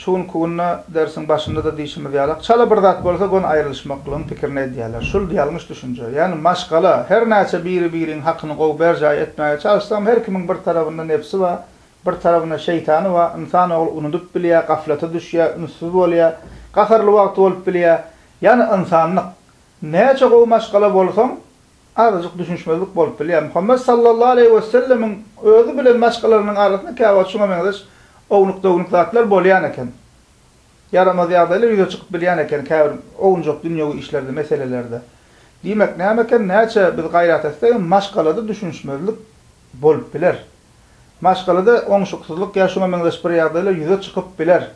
Şu günki günde dersiň başynda-da diýşimiz ýalak, çala bir zat bolsa gön aýrylyşmaklygyň pikirini edýärler. Şul ýalňyş düşünje. Ýagny maşgala, her näçe biri-biriň hakyny gowy berjaý etmäge çalyşsaňam her kimiň bir tarabynda nebsi bar, bir tarabynda şeýtany bar, ynsan ogly unudyp bilýär, gaflata düşýär, ünssüz bolýar, gaharly wagty bolup bilýär. Ýagny ynsanlyk. Näçe gowy maşgala bolsaň, Azajyk düşünişmezlik bolup bilýär. Muhammet sallallahu aleýhi wesellemiň özi bilen başgalarynyň arasynda käwagt şuňa meňzeş ownuk-downuk zatlar bolýan eken. Ýaramaz ýagdaýlar ýüze çykyp bilýän eken käbir owunjak dünýewi işlerde, meselelerde. Diýmek näme eken, näçe biz gaýrat etsek hem maşgalada düşünişmezlik bolup biler. Maşgalada oňşuksyzlyk ýa şuňa meňzeş bir ýagdaýlar ýüze çykyp biler.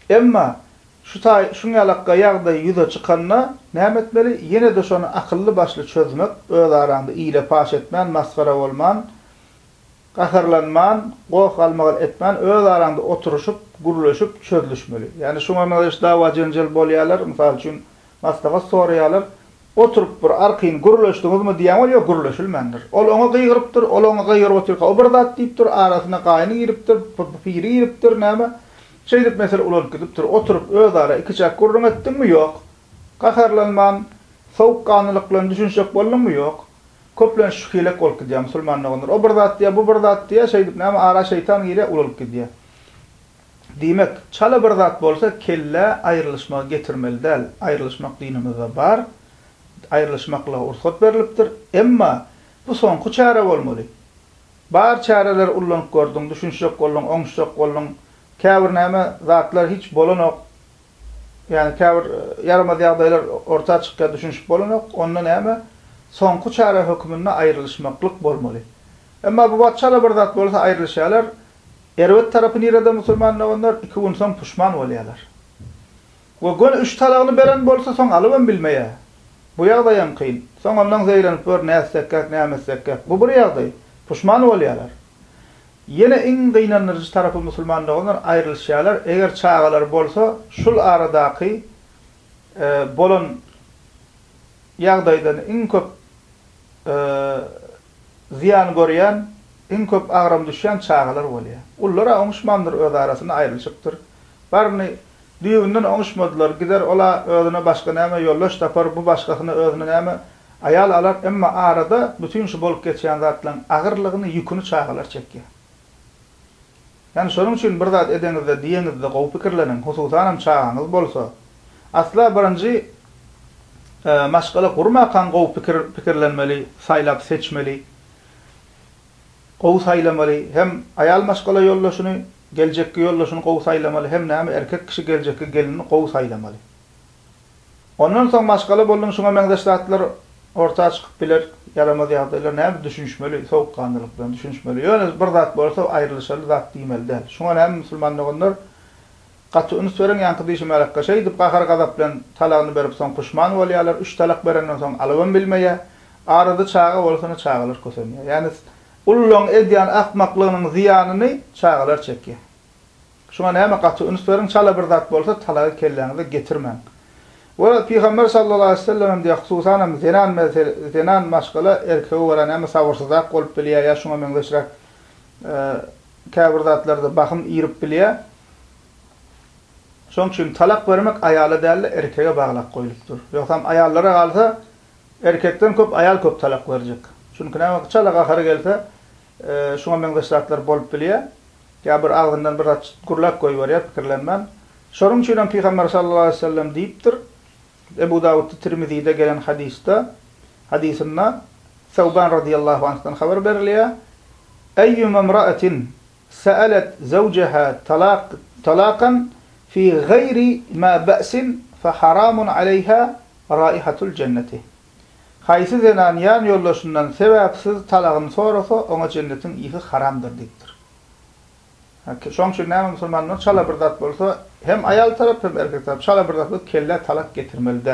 Emma, şu taý şuň ýalakga ýagdaý ýüze çykanda, näme etmeli? Ýene-de şony akylly-başly çözmek, öz araňda ile paş etmän, masgara bolman, gaharlanman, goh-galmagal etmän, öz araňda oturyşyp, gürleşip, çözlüşmeli. Ýani, şuň ornuna hiç dawa-jenjel bolýarlar, mysal üçin, maslahat soraýarlar. Oturyp bir arkaýyn gürleşdiňizmi diýýän bolup, ýok, gürleşilmändir. Ol oňa gygyrypdyr, ol oňa gygyryp otyrka, o bir zat diýipdir, arasyna gaýyny giripdir, piri giripdir, näme, Şeýdip mesele ulalyp gidipdir. Oturyp özara ikiçäk gürrüň etdiňmi? Ýok. Gaharlanman, sowukganlylyklan düşünişjek bolduňmy? Ýok. Köplenç şu hilek bolup gidýär musulman doganlar. O bir zat diýýär, bu bir zat diýýär, şeýdip näme ara şeýtan girýär, ulalyp gidýär. Diýmek, çala bir zat bolsa kellä aýrylyşmagy getirmeli däl. Aýrylyşmak dinimizde bar. Aýrylyşmaklyga ursat berlipdir. Emma bu soňky çäre bolmaly. Bar çäreleri ullanyp gördüň, düşünişjek bolduň, oňuşjak bolduň, käbir näme zatlar hiç bolanok, ýagny käbir ýaramaz ýagdaýlar orta çykýar, düşünişip bolanok, onda näme, soňky çäre höküminde aýrylyşmaklyk bolmaly. Emma bu wagt çala bir zat bolsa aýrylyşýarlar, erbet tarapy nirede musulman doganlar, iki gün soň puşman bolýarlar. We göni üç talagyny beren bolsa soň alybam bilmeýär. Bu ýagdaýam kyn. Soň ondan zeýrenip gör nätsekkäk näme etsekkäk. Bu bir ýagdaý. Puşman bolýarlar. Ýene iň gynandyryjy tarapy musulman doganlar aýrylyşýarlar eger çagalary bolsa şul aradaky bolan ýagdaýdan iň köp zyýan görýän iň köp agram düşýän çagalar bolýar. Ullar-a oňuşmandyr öz arasynda aýrylyşypdyr. Baryny Düýbünden oňuşmadylar. Gider ol-a özüne başga näme ýoldaş tapar, bu başgasyna özüne näme aýal alar, emma arada bütin şu bolup geçýän zatlaryň agyrlygyny, ýüküni çagalar çekýär. Ýani şonuň üçin bir zat edeňizde, diýeňizde gowy pikirleniň, hususanam çagaňyz bolsa. Asla birinji maşgala gurmakaň gowy pikir pikirlenmeli, saýlap seçmeli, gowy saýlamaly hem aýal maşgala ýoldaşyny, Geljekki ýoldaşyny gowy saýlamaly hem näme erkek kişi geljekki gelinini gowy saýlamaly. Ondan soň maşgala bolduň şuňa meňzeş zatlar orta çykyp biler ýaramaz ýagdaýlar näme düşünişmeli sowukganlylyk bilen düşünişmeli ýöne bir zat bolsa aýrylyşaly zat diýmeli däl şuňa näme musulman doganlar gaty üns beriň ýaňky diýşimärakka şeýdip gahar gazap bilen talagyny berip soň puşman bolýalar üç talak berenden soň alybam bilmeýä arada çaga bolsa ine çagalar kösenýä ýäne Ullaryň edýän akmaklygynyň zyýanyny çagalar çekýär. Şuňa näme gaty üns beriň, çala bir zat bolsa talagy kelläňize getirmäň. We Pygamber sallallahu aleýhi we sellem hem diýýär, hususan hem zenan mesele, zenan maşgala erkege görä näme sabyrsyzrak bolup bilýär ýa şuňa meňzeşräk käbir zatlarda bahym irip bilýär. Şoň üçin talak bermek aýala däl-de erkege baglap goýlupdyr. Ýogsam aýallara galsa, Erkekden köp aýal köp talak berjek. Çünki näme çala gahary gelse şuňa meňzeş zatlar bolup bilýär. Ýa bir agzyndan bir zat gürläp goýberýär pikirlenmän. Şonuň üçin hem Pygamber sallallahu aleýhi we sellem diýipdir, Ebu Dawudda Tirmizide gelen hadysda, hadysynda Sawban radiyallahu anhdan habar berilýär, Eýýuma mra'atin Sa'alat zawjaha talaq talaqan fi gaýri ma ba'sin fa haramun aleýha raihatul jenneti. Haýsy zenan ýan ýoldaşyndan sebäpsiz talagyny sorasa, oňa jennetiň ýyhy haramdyr diýipdir. Şoň üçin näme musulmanlar çala bir zat bolsa, hem aýal tarap, hem erkek tarap çala bir zat bolup kellä talak getirmeli däl.